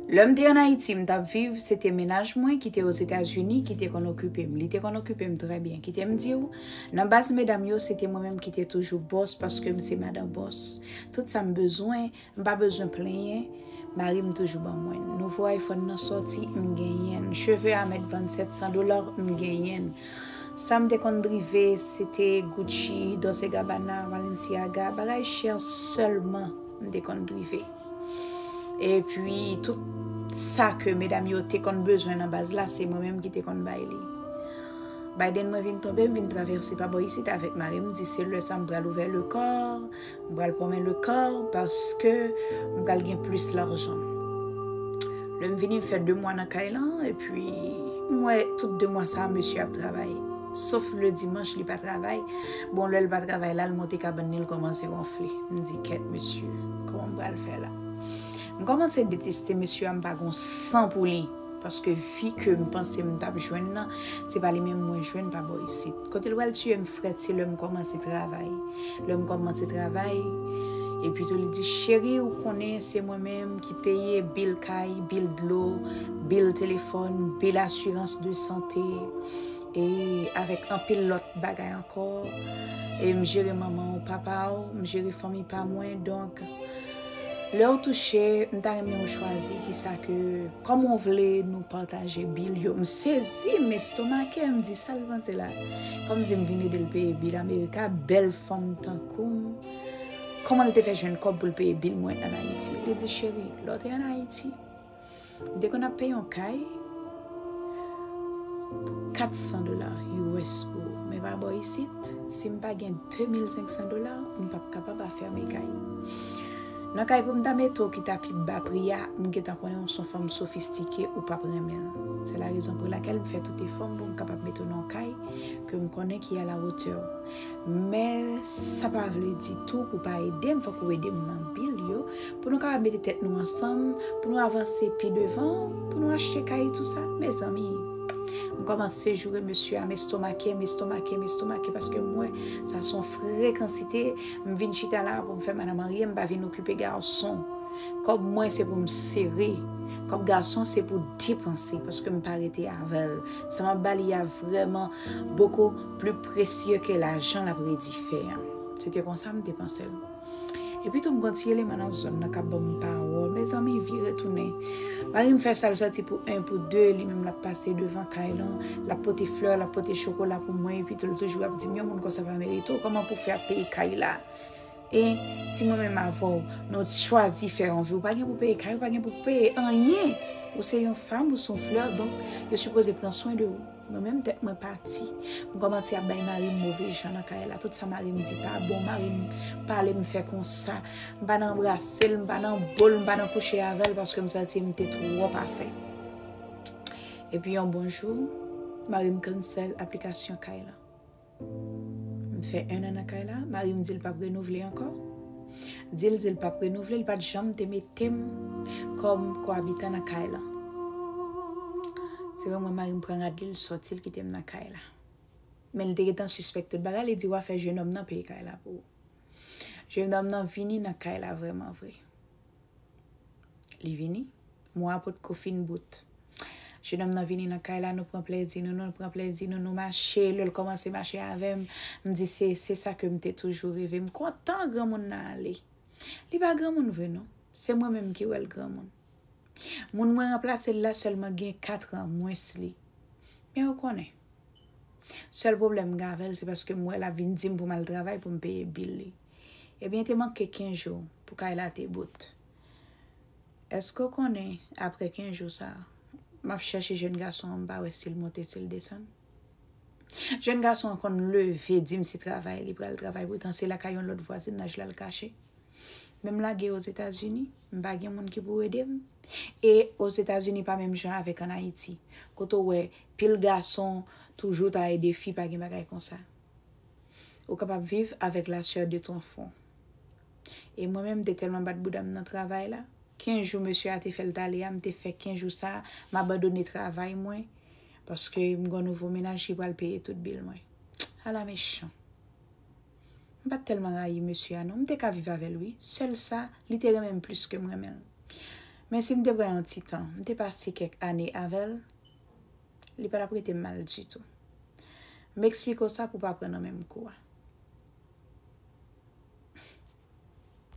Lè m te ann Ayiti, m t ap viv, se te mennaj mwen ki te Ozetazini ki te konn okipe m. Li te konn okipe m trè byen. Kite m di w, nan baz medam yo, se te mwen menm ki te toujou bòs paske m se madan bòs. Tout sa m bezwen, m pa bezwen plenyen, mari m toujou ban mwen. Nouvo Iphone nan sòti, m genyen l. Cheve a mèt vann 700 dola, m genyen l. Sa m te konn drive, se te Gucci, Dolce Gabbana, Balenciaga, bagay chè sèlman m te konn drive. E pwi tout sa ke medam yo te konn bezwen nan baz la se mwen menm ki te konn bay li. Biden mwen vin tonbe m vin travèse pa bò isit avèk mari m di se lè sa m pral ouvè le kò, m pral pwonmen le kò paske m pral gen plis lajan. Lè m vini m fè 2 mwa nan kay lan e pwi m wè tout 2 mwa sa mesye ap travay. Sof le dimanch li pa travay. Bon lè l pa travay la l monte kabann li l kòmanse wonfle. M di kèt mesye. Kòman m pral fè la? M kòmanse deteste mesye a, m pa gon san pou li. Paske fi ke m panse m tap jwenn nan, se pa li menm mwen jwenn pa bò isit. Kote l pral tiye m frèt se lè m kòmanse travay. Lè m kòmanse travay, e pito li di, cheri ou konnen se mwen menm ki peye bil kay, bil dlo, bil telefòn, bil asirans de sante. E avèk anpil lòt bagay ankò. E m jere manman w, papa w, m jere fanmi pa mwen. Donk, lè w touche, m ta renmen ou chwazi ki sa ke, kòman w vle nou pataje bil yo. M sezi, m estomake, m di sa l panse la. Kòm m di m vin ede l peye bil Amerika, bèl fanm tankou m, kòman l te fè jwenn kòb pou l peye bil mwen an Ayiti? Li di, cheri, lè w te an Ayiti, M te konn ap peye yon kay pou 400 dola us pou men pa bò isit si m pa gen 2500 dola m pap kapab afème kay. Nan kay pou m ta mete w ki ta pi ba pri a m gentan konnen w s on fanm sofistike ou pap renmen l. Se la rezon pou lakèl m fè tout efò m pou m kapab mete w nan yon kay ke m konnen ki a la wotè w. Men sa pa vle di tou pou pa ede m, fòk ou ede m nan bil yo, pou nou kapab mete tèt nou ansanm, pou nou avanse pi devan, pou nou achte kay e tou sa, mezanmi, m kòmanse joure mesye a, m estomake, m estomake, m estomake, paske m wè sa son frekansite, m vin chita la pou m fè madanm anyen, m pa vin okipe gason, kòb mwen se pou m sere, kòb gason se pou depanse, paske m pa rete avè l, sa m ap ba li a vrèman boko. Pli presye ke lajan l ap redi fè an. Se te konsa m te panse l. Epi tou m konn ti eleman nan zòn nan k ap ban m pawòl, Mezanmi vire tounen. Mari m fè sa l sòti pou 1 pou 2, li menm l ap pase devan kay lan, l ap pote flè, l ap pote chokola pou mwen epi tou l toujou ap di m yon moun konsa pa merite w, kòman pou w fè ap peye kay la? E si mwen menm avè w nou chwazi fè anvi, ou pa gen pou peye kay, ou pa gen pou peye anyen! Ou se yon fanm, ou se yon flè donk yo sipoze pran swen de ou. Mwen menm tèt mwen pati. M kòmanse ap bay mari m move jan nan kay la. Tout sa mari m di pa bon. Mari m pale m fè konsa. M pa nan anbrase l, m pa nan bo l, m pa nan kouche avè l paske m santi m te twò pa fè. Epi yon bon jou, mari m kansèl aplikasyon kay lan. M fè 1 an nan kay la, mari m di l pap renouvle ankò. Di l di l pap renouvle, l pat janm te mete m kòm koabitan nan kay lan. Se vre mwen mari m pran rad li, l sòti l kite m nan kay la. Men l te gentan sispèk tout bagay, li di wa fè jenòm nan peye kay la pou ou. Jenòm nan vini nan kay la vrèman vre. Li vini. Mou a pot ko fin bout. Jenòm nan vini nan kay la, nou pran plèzi nou, nou pran plèzi nou, nou mache, lè l kòmanse mache avè m, m di se, se sa ke m te toujou reve. M kontan granmoun nan ale. Li pa granmoun vre non. Se mwen menm ki wè l granmoun. Moun mwen ranplase l la sèlman gen katran mwens li. Men ou konnen. Sèl pwoblèm m gen avè l se paske m wè l ap vin di m pou m al travay pou m peye bil li. Ebyen te manke 15 jou pou kay la te bout. Eske w konnen apre 15 jou sa, m ap chèche jèn gason an m pa wè si l monte si l desann. Jèn gason an konn leve di m se travay li pral travay poutan se lakay yon lòt vwazinaj la l kache. Men m lage Ozetazini, m pa gen moun ki pou ede m. E Ozetazini pa menm jan avèk an Ayiti. Kote w wè pil gason toujou ta ede fi pa gen bagay konsa. Ou kapab viv avèk la chè de ton fwon. E mwen menm m te tèlman bat bouda m nan travay la, kenz jou mesye a te fè l t ale a m te fè kenz jou sa m abandone travay mwen paske m gen yon nouvo mennaj ki pral peye tout bil mwen. Ala mechan! M pa t tèlman rayi mesye a non, m te ka viv avè l wi, sèl sa li te renmen m plis ke m renmen l. Mensi m te pran yon ti tan, m te pase kèk ane avè l. Li pa tap rete mal ditou. M eksplike w sa pou w pa pran nan menm kou a.